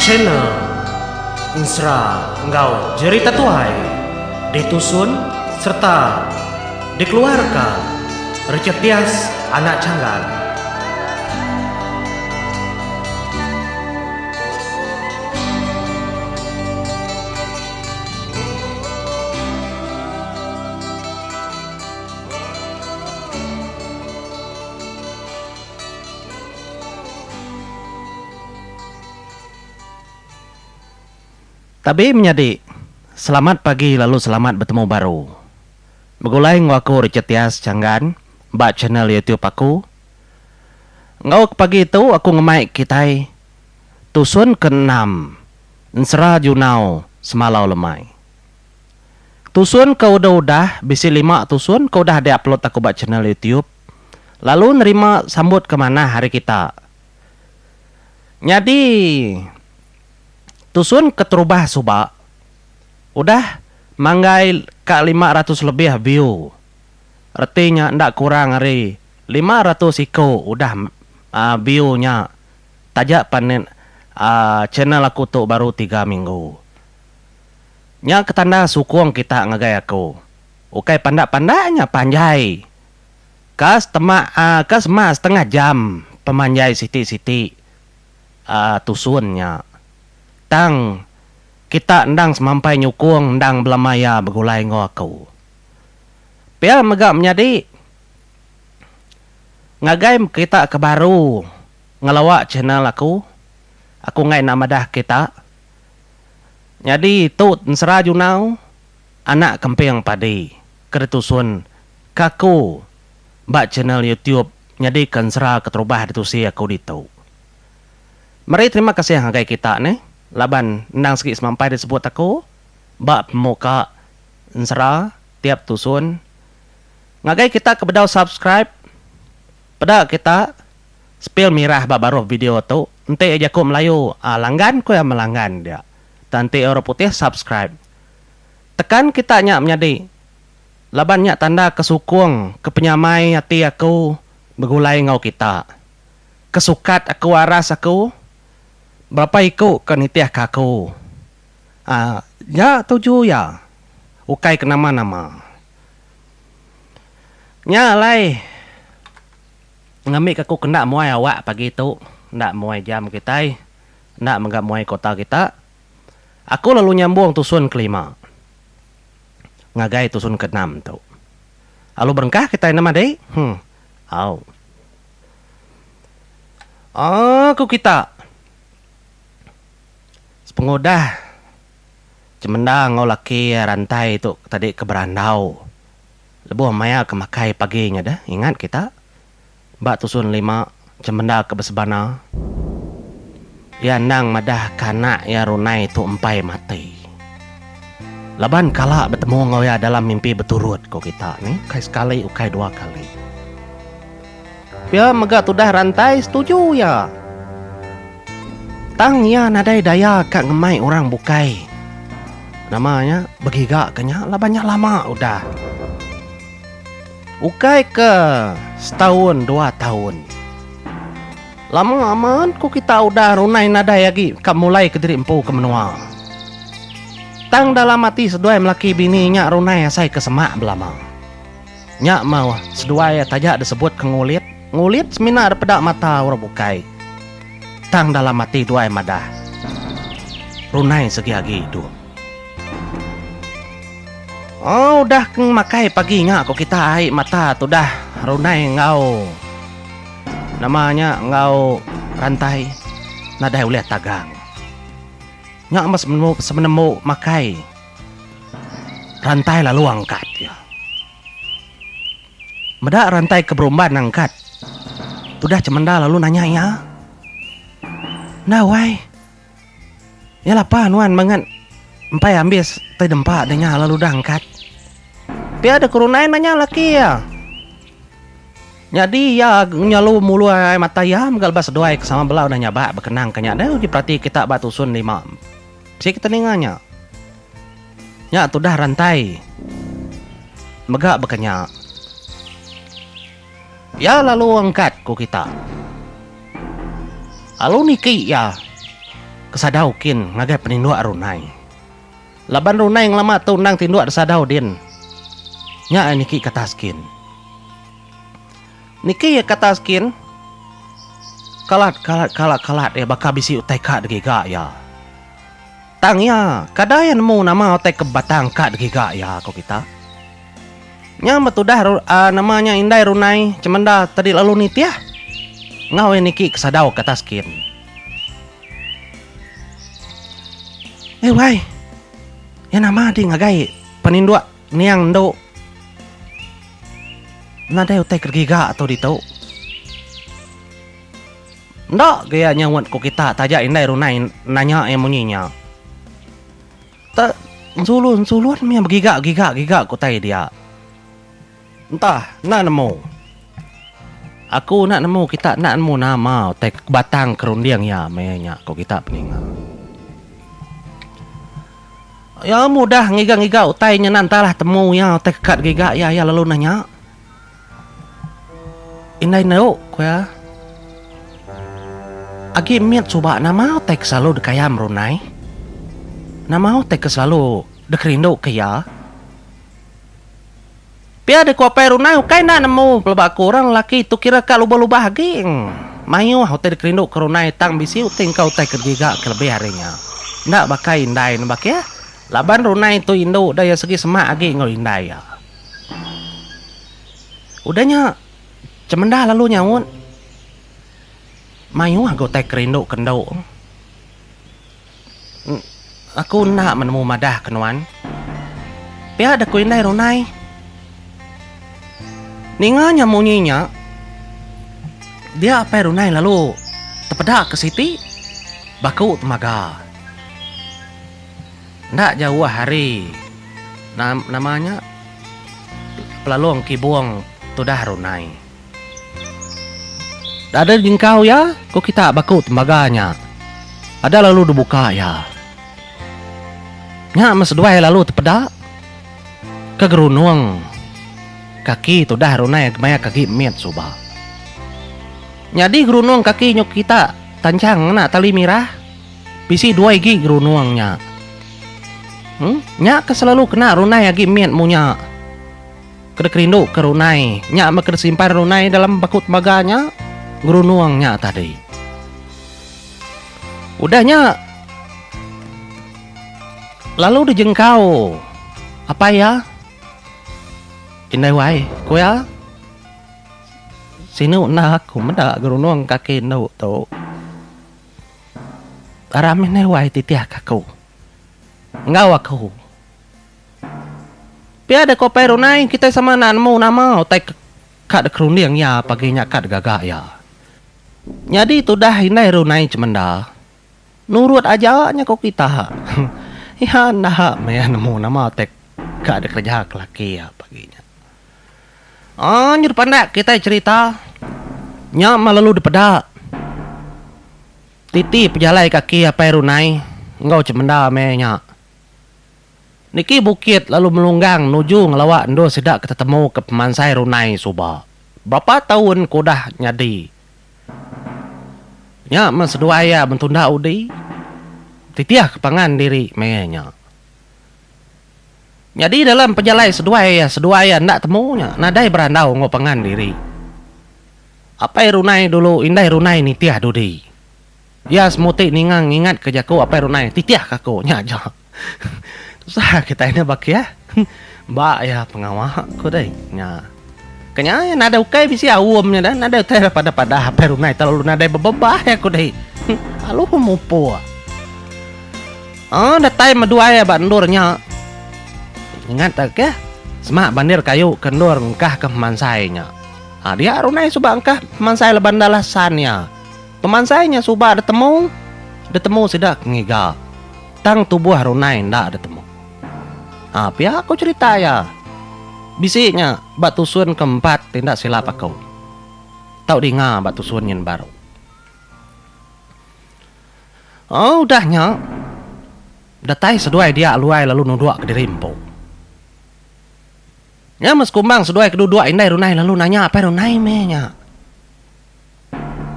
Channel Ensera enggau Jerita Tuai ditusun sereta dikeluarka Richard Tias Anak Changgan. Tabi menyadi, selamat pagi lalu selamat betemu baru. Begulai enggau aku Richard Tias Changgan ba channel YouTube aku. Enggau ke pagi tu aku ngemai kitai tusun ke enam ensera junau semalau lemai. Tusun ke udah udah bisi lima tusun ke udah diupload aku ba channel YouTube lalu nerima sambut ke manah ari kita. Nyadi tusun keterubah suba udah manggai ka lima ratus lebih view reti nya enda kurang ari lima ratus iko udah view nya taja pan channel aku tu baru tiga minggu. Nya ke tanda sukung kita ngagai aku. Ukai pandak-pandak nya panjai. Ka setema uhh ka sema setengah jam pemanjai siti-siti uhh tusun nya. Tang kita endang semampai nyukung endang bela maya begulai enggau aku. Pia mega menyadi ngagai kita ke baru ngelawa channel aku, aku enggai enda madah kita. Nyadi tu ensera Junau anak kemping padi ke ditusun ke aku ba channel YouTube nyadi ke ensera keterubah ditusi aku ditu. Meri terima kasih ngagai kita neh laban endang segi semampai disebut aku ba pemuka ensera tiap tusun. Ngagai kita ke bedau subscribe peda kita. Spil mirah ba baruh video tu enti jaku melayu a langgan ku iya melanggan dia tang enti orang putih subscribe tekan kita nya menyadi laban nya tanda ke sukung ke penyamai ati aku begulai enggau kita ke sukat aku aras aku berapa iku ke nitih ke aku a nya tuju iya ukai ke nama nama nya alai. Ngambika aku kena muai awak pagi tu, enda muai jam kitai, enda mega muai kota kita, aku lalu nyambung tusun kelima ngagai tusun keenam tu. Alu berengkah kitai neh madi. Huh. Au. Aaa ku kita. Sepengudah Chemenda enggau laki rantai tu tadi ke berandau. Lebuh maya ke makai pagi nya deh ingat kita ba tusun lima cemenda ke besebana iya endang madah ke anak iya runai tu empai mati laban kala betemu enggau iya dalam mimpi beturut ko kita ni ukai sekali ukai dua kali. Pia mega tudah Rantai setuju iya. Tang iya nadai daya ka ngemai orang bukai. Nama nya begiga ke nya laban nya lama udah. Ukai ke setaun dua taun. Lama amat ku kita udah runai nadai agi ka mulai ke diri empu ke menua. Tang dalam ati seduai melaki bini nya runai asai ke semak belama. Nya mauh seduai taja disebut ke ngulit. Ngulit semina dipeda mata orang bukai. Tang dalam ati duai madah, Runai segi agi idup. Oh udah ke makai pagi nya ko kita ai mata tudah Runai enggau nama nya enggau Rantai nadai ulih tagang. Nya meh semenembu makai. Rantai lalu angkat iya. Meda rantai ke berumban angkat, tudah cemenda lalu nanya iya, Enda wai. Iya lapa nuan mangat empai ambis ti dempa deh nya lalu udah angkat? Pia deh ku runai nanya laki iya. Nyadi iya nyalu mulai mata iya mega lebuh seduai ke sama bela udah nyabak bekenang ke nya deh uji perati kita ba Tusun Lima. Sik teninga nya. Nya tudah rantai. Mega baka nya. Iya lalu angkat ku kita. Lalu niki iya kesadau kin ngagai peninduk runai. Laban runai ngelama tu endang tinduk disadau din. Nya niki katas kin. Niki iya kata skin. Kalat kalat kalat kalat iya baka bisi utai ka digiga iya. Tang iya kada iya nemu nama utai ke batang ka digiga iya ko kita. Nya meh tudah uhh nama nya indai runai cemenda tadi lalu nitih. Enggau iya niki ke sadau kata skin. Ai wai. Iya nama di ngagai peninduk. Niang endu. Nadai utai ke giga tu ditu. Enda ke iya nyaunt ku kita taja indai runai nanya iya munyi nya. Ta nsulun nsulun mih begiga giga giga ku utai dia. Entah enda nemu. Aku enda nemu kita enda nemu nama utai batang kerunding iya meh iya nya ku kita peninga. Iya mudah ngiga-ngiga utai nya enda entah lah temu iya utai keka digiga iya iya lalu nah nya. Indai neu ku iya. Agi mit suba nama utai ke selalu dikaya merunai? Nama utai ke selalu dikerinduka iya? Pia deh ku Apai Runai ukai enda nemu peleba aku orang lelaki tu kira ka lubah-lubah agi. Mayuh utai dikerindu ke Runai tang bisi utai engka utai ke digiga ke lebih ari nya. Enda baka indai ne baka iya. Laban Runai tu indu udah iya segi semak agi enggau indai iya. Udah nya Chemenda lalu nyaut. Mayuh agi utai kerindu ke endu. Aku enda menemu madah ke nuan. Pia deka ku indai runai. Ninga nya munyi nya, dia apai runai lalu tepeda ke siti baku temaga. Enda jauh hari nama nya pelalong kibong tudah runai. Dada jingkau iya, ko kita baku tembaga nya. Ada lalu dibuka iya. Nya meh seduai lalu tepeda ke gerunung kaki tudah runai kemaya ke agi mit suba. Nyadi gerunung kaki nyuk kita tanchang ngena tali mirah bisi dua igi gerunung nya. Nya ke selalu kena runai agi mit munya. Kena kerindu ke runai nya meh kena simpan runai dalam baku temaga nya ngerunung nya tadi. Udah nya lalu dijengkau apai iya indai wai ku iya sinu enda aku meda ngerunung kaki enu tu aram indai wai titih ka aku enggau aku. Pia deh ko Pai Runai, kitai sama enda nemu nama utai ke ka dikerunding iya pagi nya ka digaga iya. Nyadi tudah indai Runai cemenda, nurut aja nya ko kita. Iya enda meh nemu nama utai ka dikereja ke laki iya pagi nya. Anj dipandak kitai cherita nya meh lalu dipeda titi pejalai kaki Apai Runai enggau cemenda meh nya. Niki bukit lalu melunggang nuju ngelawa endur sida ke tetemu ke pemansai runai suba. Berapa taun ke udah nyadi nya men seduai iya bentunda udi titih ke pangan diri meh nya. Nyadi dalam pejalai seduai iya seduai iya enda temu nya nadai berandau enggau pangan diri. Apai runai dulu indai runai nitih dudi. Iya semuti ninga ngingatka jaku apai runai titihka aku nya aja. Tusah kitai enda bakih. Ba iya pengawa ku deh nya. Ke nya iya nadai ukai bisi aum nya deh nadai utai ira padah padah apai rungai telalu nadai bebebah iya ku deh. Alu ku mupur. Oh datai meduai iya ba endur nya. Ingat tau keh semak bandir kayu ke endur engkah ke pemansai nya. Adik runai suba engkah pemansai leban enda lasan iya. Pemansai nya suba detemu, detemu sida ke ngiga, tang tubuh runai enda detemu. Ha pia ku cherita iya. Bisi nya ba tusun ke empat ti enda silap aku. Tau dinga ba tusun nyin baru. O udah nya, datai seduai dia luai lalu nuduk kediri empu. Nya meh sekumbang seduai ke duduk indai runai lalu nanya apai runai meh nya.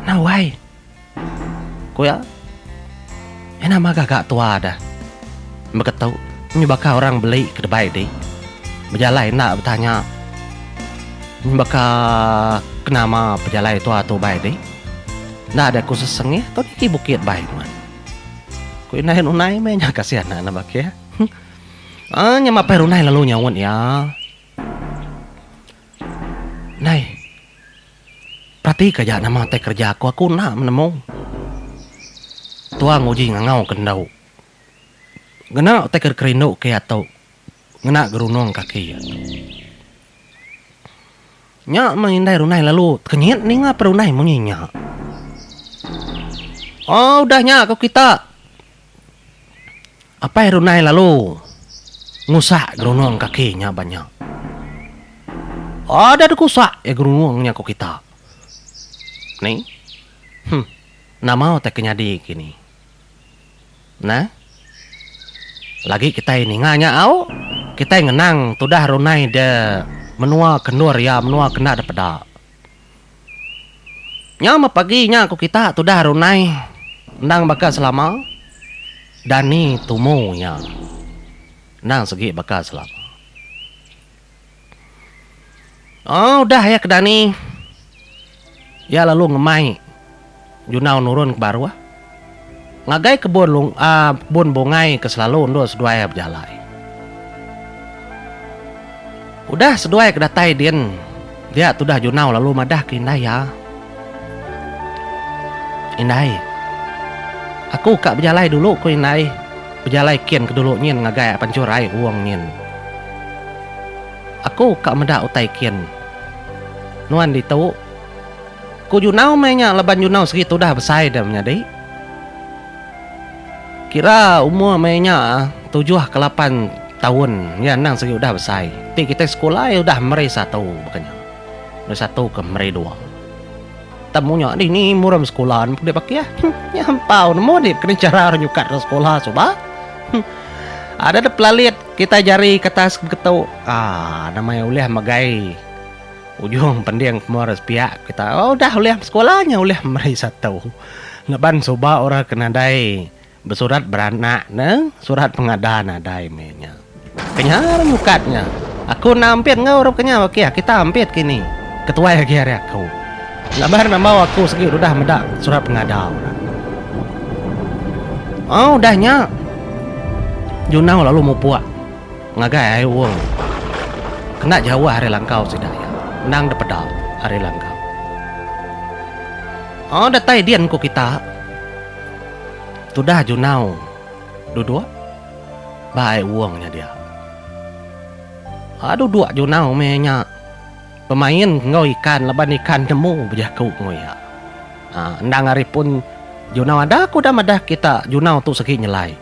Nah wai. Ku iya. Iya nama gaga tua dah. Beketu nyebaka orang beli ke debai dih. Bejalai enda betanya nyebaka ke nama pejalai tua tu bai dih. Enda deh ku sesengih tau niki bukit bai nuan. Ku indai Runai meh nya kasih anak ne baka iya. Uhh nya mapai Runai lalu nyaut iya. Nai. Peratika aja nama utai kereja aku, aku enda menemu. Tuang uji ngangau ke endu. Ngena utai ke dikerindu ke iya tu ngena gerunung kaki iya tu. Nya meh indai runai lalu tekenyit ninga perunai munyi nya. Au udah nya ko kita. Apai Runai lalu ngusak gerunung kaki nya ba nya. Ada dikusak iya gerunung nya ku kita. Ni. Huh. Nama utai ke nyadi ke ni. Nah. Lagi kitai ninga nya au, kitai ngenang tudah Runai de menua ke endur iya menua kenda depeda. Nya meh pagi nya ku kita tudah runai endang baka selama dani tumu nya endang segi baka selama. Au udah iya ke dani iya lalu ngemai. Junau nurun ke baruh. Ngagai kebun long kebun bungai ke selalu endur seduai bejalai. Udah seduai ke datai din dia tudah Junau lalu madah ke indai iya. Indai. Aku ka bejalai dulu ku indai. Bejalai kin ke dulu nyin ngagai pancur ai Ong nyin. Aku ka meda utai kin. Nuan ditu. Ku Junau meh nya leban Junau segi tudah besai dia menyadi. Kira umur meh nya tujuh ke lapan taun iya endang segi udah besai. Ti kitai sekula iya udah meri satu baka nya. Meri satu ke meri dua. Tang munya dini murum sekula ne pudi bakih. Nya ampau nemu agi kena chara orang nyukat orang sekula suba. Ada dep pelalit kitai jari kertas beketu. Aa nama iya ulih megai. Ujung pending pemur sepiak kita udah ulih besekolah nya ulih meri satu ngaban suba orang ke nadai besurat beranak ne surat pengada nadai meh nya. Kenyah ari nyukat nya. Aku enda ampit enggau orang kenyah ok kita ampit kini ketuai agi ari aku ngaban rambau aku sigi udah meda surat pengada orang. Au udah nya Junau lalu mupuk Ngagai ai Ong. Kena jauh ari langkau sida iya. Endang depeda ari langkau. Oh datai din engku kita. Tudah Junau duduk ba ai Ong nya dia. Ah duduk Junau meh nya bemain enggau ikan laban ikan nemu bejaku enggau iya. Ah endang ari pun Junau ada ku udah madah kita Junau tu segi nyelai.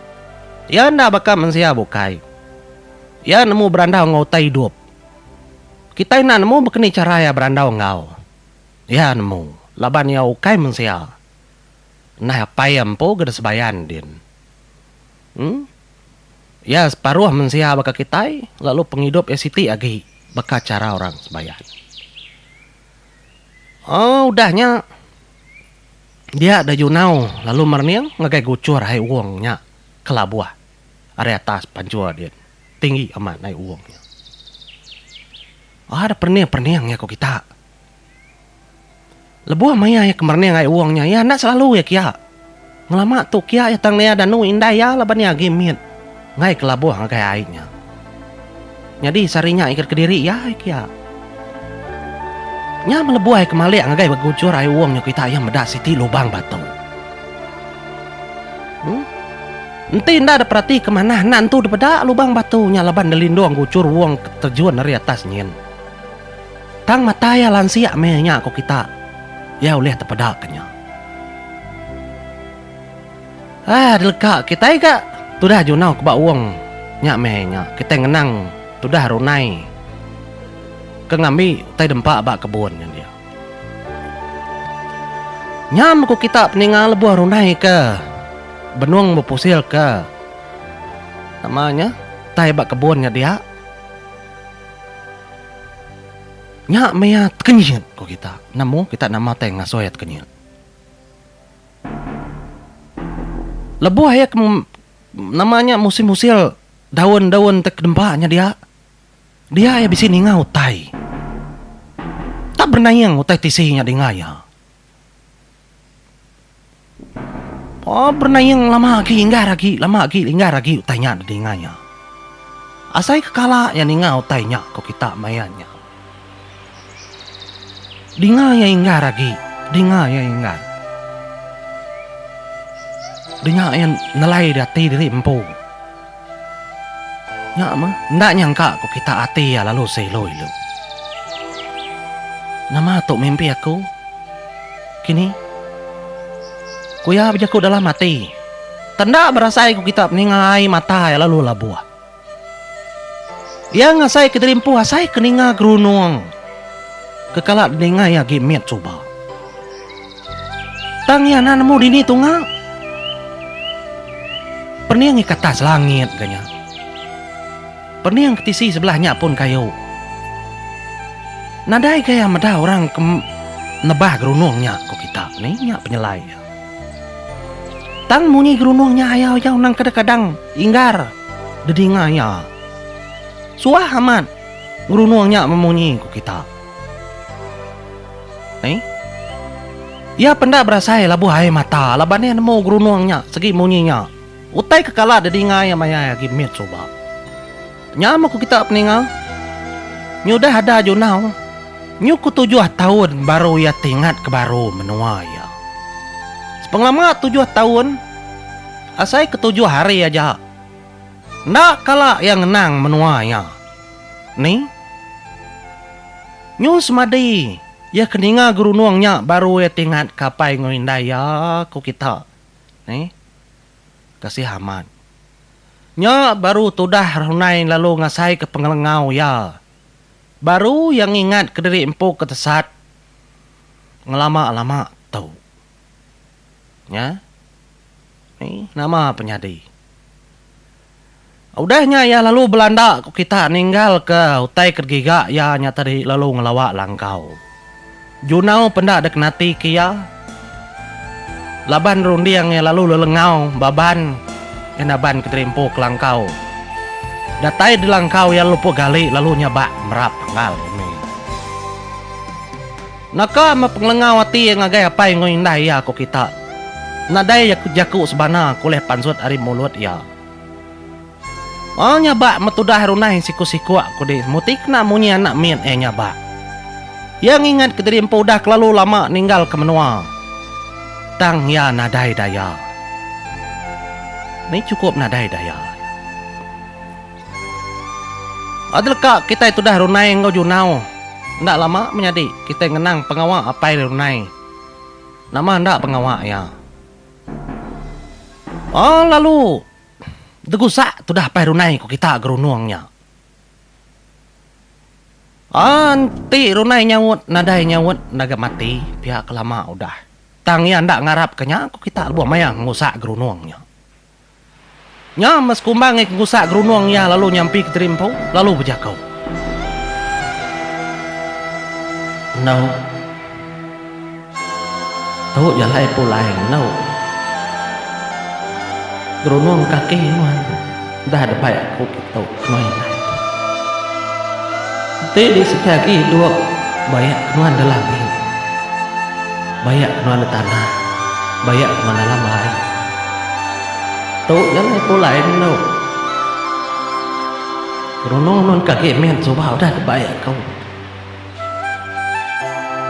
Iya enda baka mensia bukai. Iya nemu berandau enggau utai idup. Kitai enda nemu baka ni chara iya berandau enggau. Iya nemu, laban iya ukai mensia. Nah Apai iya empu ke disebayan din. Em. Iya separuh mensia baka kitai, lalu pengidup iya siti agi baka chara orang sebayan. Aaa udah nya, Dia Daju Nau lalu merening ngagai guchur ai uong nya kelabuh ari atas panjur din tinggi amat ai uong nya. Ada perening-perening iya ko kita. Lebuh maya iya ke merening ai uong nya iya enda selalu iya kia. Ngelama tu kia iya tang naya danu indai iya laban iya agi mit. Enggai kelabuh ngagai ai nya. Nyadi sehari nya ikat kediri iya ai kia. Nya melebuh ai kemalik ngagai begujur ai uung nya kita iya meda siti lubang batu. Em. Enti enda diperatika manah enda nentu dipeda lubang batu nya laban delindung gujur uung ke terjun ari atas nyin. Tang mata iya lansik meh nya ku kita. Iya ulih tepedaka nya. Aah deleka kitai ga tudah junau ke ba Wong nya meh nya kitai ngenang tudah runai ke ngambi utai dempa ba kebun nya dia. Nyam ku kita peninga lebuh runai ke benung bepusil ke nama nya utai ba kebun nya dia. Nya meh iya tekenyit ku kita nemu kita nama tai ngasoi iya tekenyit. Lebuh iya ke nama nya musim usil daun-daun ti kedempa nya dia, dia iya bisi ninga utai. Enda benaing utai tisi nya dinga iya. Paa benaing lama agi inggar agi lama agi inggar agi utai nya didinga iya. Asai ke kala iya ninga utai nya ko kita maya nya. Dinga iya inggar agi. Dinga iya inggar. Dinga iya nelai di ati diri empu. Nya mah, enda nyangka ku kita ati iya lalu seloi lu. Nama tu mimpi aku kini? Ku iya bejaku dalam ati. Tenda berasai ku kita ninga ai mata iya lalu labuh. Iya ngasai ke diri empu asai ke ninga gerunung ke kala dininga iya agi mit suba. Tang iya enda nemu dini tunga pening ika atas langit ke nya. Pening ke tisi sebelah nya pun kayu. Nadai ga iya meda orang ke nebah gerunung nya ku kita ni nya penyelai iya. Tang munyi gerunung nya ayau-ayau nang kadang-kadang. Inggar dedinga iya. Suah amat ngerunung nya memunyi ku kita. Ai. Iya penda berasai labuh ai mata laban iya nemu gerunung nya segi munyi nya. Utai kekala dedinga iya mayai agi mit suba. Nya meh ku kita peninga. Nya udah ada Junau. Nyu ku tujuh taun baru iya tingat ke baru menua iya. Sepengelama tujuh taun, asai ke tujuh hari aja. Enda kala iya ngenang menua iya. Ni? Nyu semadi iya ke ninga gerunung nya baru iya tingat ke apai enggau indai iya, ku kita. Ni? Kasih amat. Nya baru tudah Runai lalu ngasaika pengelengau iya. Baru iya ngingatka diri empu ke tesat ngelama-lama tu. Nya. Ni nama penyadi. Udah nya iya lalu belanda ku kita ninggalka utai ke digiga iya nya tadi lalu ngelawa langkau. Junau penda dikenatika iya laban runding iya lalu lelengau ba ban enda ban kederimpu ke langkau. Datai di langkau iya lepu gali lalu nyabak merap penggal umi. Naka meh pengelengau ati iya ngagai apai enggau indai iya ku kita. Nadai jaku sebana ke ulih pansut ari mulut iya. Mau nyabak meh tudah runai siku-sikuk ku dih semuti kena munyi anak mit iya nyabak. Iya ngingatka diri empu udah kelalu lama ninggalka menua tang iya nadai daya. Ni chukup nadai daya iya. Agi leka kitai tudah runai enggau Junau, enda lama menyadi kitai ngenang pengawa apai ri runai. Nama enda pengawa iya. Aa lalu degusak tudah apai runai ku kita gerunung nya. Aa enti runai nyaut nadai nyaut enda ga mati pia ke lama udah. Tang iya enda ngarapka nya ku kita lebuh maya ngerusak gerunung nya. Nya meh sekumbang ngi kengkusak gerunung iya lalu nyampi Kediri Empu lalu bejaku. Enu. Tu jalai pulai enu. Gerunung kaki nuan dah debai aku kitu kemai indai. Enti di siti agi duk bayak ke nuan dalam ni. Bayak ke nuan di tanah, bayak ke nuan dalam ai. Tu ngelai pulai enu. Runung nun ka agi min suba udah tebai aku.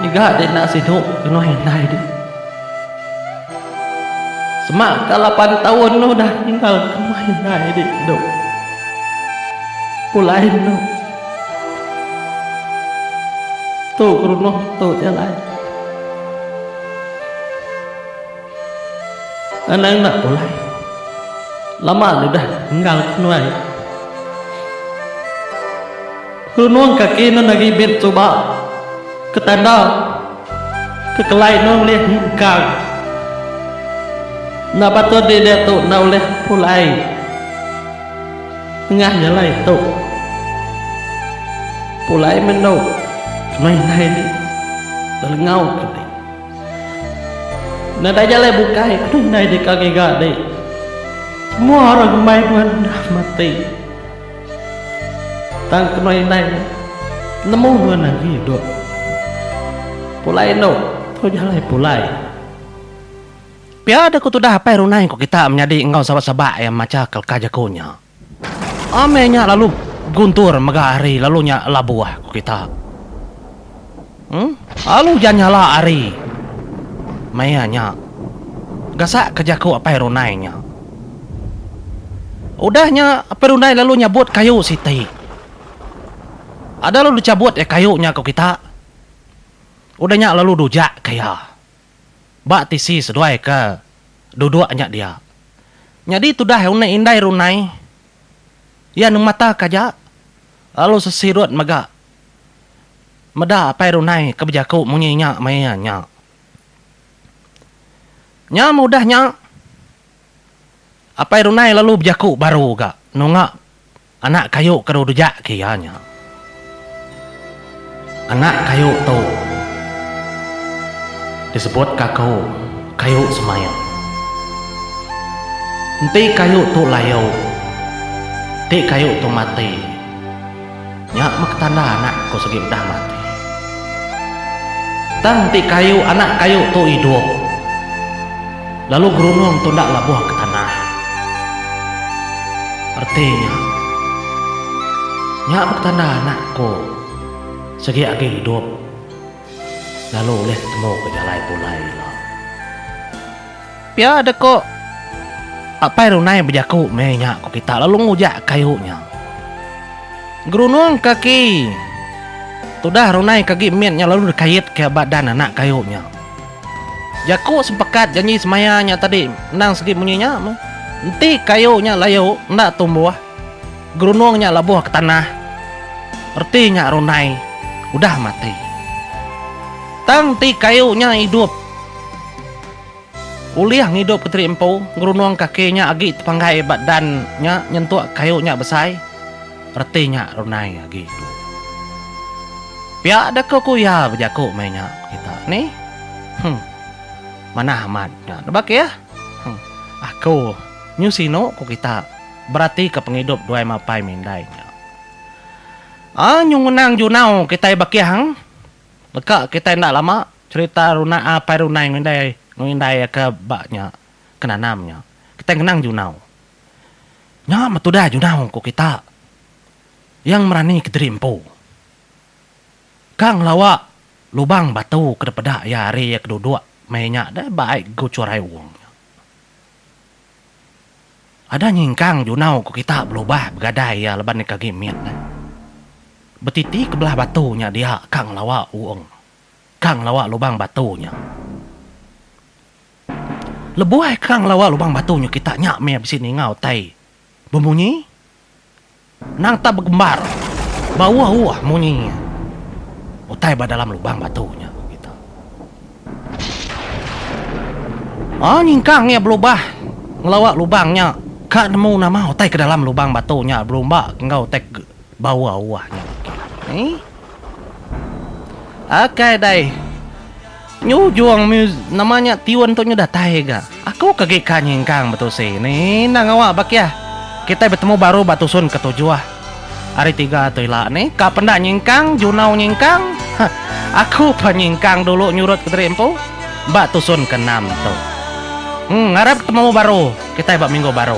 Ngiga di enda sidu kenoi indai di. Sema ka lapan taun nu udah tinggal kemah indai di tu. Pulai enu. Tu runung tu jalai. Anang enda pulai. Lama nya udah enggal ke nuai. Runung kaki nun agi mit suba ke tanda ke kelai nun ulih engkang. Enda patut dik diatu enda ulih pulai nengah jalai tu. Pulai meh endo ke nuai indai dik lelengau ke dik. Nadai jalai bukai tu indai deka ngiga deh. Semua orang ngemai nuan dah mati. Tang keno indai nemu nuan agi idup. Pulai endo tu jalai pulai. Pia deh ku tudah apai runai ku kita menyadi enggau sabak-sabak iya macha kelka jaku nya. Amai nya lalu guntur mega ari lalu nya labuh ku kita. Em alu ja nyala ari maya nya gasak ke jaku apai runai nya. Udah nya apai runai lalu nyabut kayu siti. Ada lalu dichabut iya kayu nya ku kita. Udah nya lalu dujak ka iya. Ba tisi seduai ke duduk nya dia. Nyadi tudah unik indai runai iya nemata ke aja lalu sesirut mega meda apai runai ke bejaku munyi inya maya iya nya. Nyam udah nya apai runai lalu bejaku baru ga nunga Anak kayu ke rujak ke iya nya. Anak kayu tu disebut ka aku kayu semaya. Enti kayu tu layu, enti kayu tu mati, nya meh ketanda anak aku segi udah mati. Tang enti kayu anak kayu tu idup. Lalu gerunung tu enda labuh ke tanah. Reti nya. Nya betanda anak aku sigi agi idup lalu ulih temu ke jalai pulai ila. Pia dek ko Apai Runai bejaku meh nya ko kita lalu ngujak kayu nya. Gerunung kaki tudah Runai ke agi mit nya lalu dikait ke ba dan anak kayu nya. Jaku sepekat janji semaya nya tadi endang sigi munyi nya meh, Enti kayu nya layu enda tumbuh, gerunung nya labuh ke tanah, reti nya rundai udah mati. Tang enti kayu nya idup, ulih ngidupka teri empu, gerunung kaki nya agi tepanggai ba dan nya nyentuk kayu nya besai. reti nya runai agi tu. Pia deka ku iya bejaku meh nya ku kita ni. Huh. Manah amat nya tu baka iya. Huh. Aku nyu sinu ku kita beratika pengidup duai mapai mindai nya. Aa nyu ngenang junau kitai bakihang deka kitai enda lama cherita runa apai runai mindai mindai aka ba nya ke nanam nya. Kitai ngenang junau. Nya meh tudah junau ku kita. Iya ngemerani kediri empu. Ka ngelawa lubang batu ke dipeda iya ari iya ke duduk meh inya deh ba ai ku Churai Ong nya. Ada nyingkang junau ku kita belubah begadai iya laban deka agi mit neh. Betiti ke belah batu nya dia ka ngelawa Ong. Ka ngelawa lubang batu nya. Lebuh ai kerang ngelawa lubang batu nyau kita nya meh bisi ninga utai bemunyi nang tak begembar bauh-auh munyi utai ba dalam lubang batu nya ku kita. Aa nyingkang iya belubah ngelawa lubang nya ka nemu nama utai ke dalam lubang batu nya belumbak enggau utai ke Bawa uah nya baka ni. Ok dai. Nyujung music nama nya tune tu nyudah tai ga. Aku ke gi ka nyingkang betusi ni endang awak ba kia. Kitai betemu baru ba tusun ke tujuh. Hari tiga tu ila ni ka penda nyingkang junau nyingkang. Ha aku pa nyingkang dulu nyurut ke diri empu ba tusun ke enam tu. Em ngarap betemu baru kitai ba minggu baru.